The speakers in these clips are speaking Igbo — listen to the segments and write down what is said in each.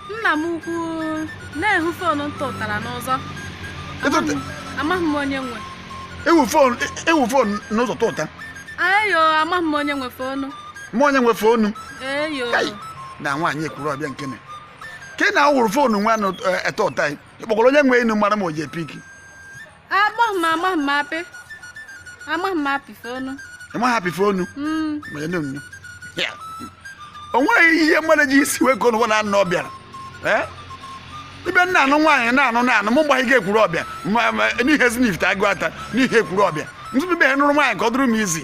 nna m ukwu na-ehu fonu m tụtara n'ụzọ amaghị m onye nwe ewu fonu e, e fon n'ụzọ tụta ayo amaghị m onye nwe fonu m onye nwe fonu eyo na nwaanyị Ekwurọbịa nke na ka ị na-awụrụ fonu nwa na ị tụta ị kpọkọrọ onye nwe enu mara ma o je-epiki amaghị m amaghị m apị amaghị m apị fonu ị maghị apị fonu ma ya na-enyo o nweghị ihe mmadụ ji isi wee gonu na anụ ọbịara ibe na-anụ nwaanyị na-anụ na-anụ mụ gbaga Ekwurọbịa n'ihe Ezinifite Aguata n'ihe Ekwurọbịa ntụtụ be nụrụ nwaanyị ka ọ dụrụ m izi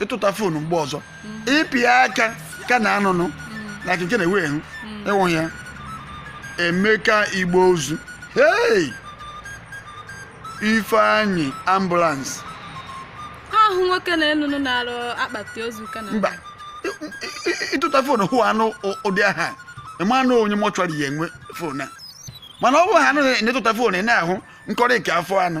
ị tụta foonu mgbe ọzọ ị pịa aka ka na anụnụ na keke na-ewe ehu ịwụ ya emeka igbe ozu hei ifeanyị ambụlansị ahụ nwoke na-enụnụ na-arụ akpati ozu ka na mba ị- ị- ị tụta foonu hụ anụ ụ- ụdị aha ị ma nụ onye mọchụarị ya nwe foonu a mana ọ bụ ha anụ na-etụta foonu ị na-ahụ nkọrị nke afọ anụ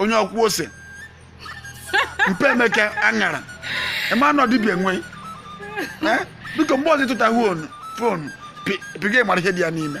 onye ọkwụ ose mpe emeka aṅara ị ma na ọ dibia nwe Eh? biko mgbe ọzọ ị tụta fonu pịga ị mara ihe dị ya n'ime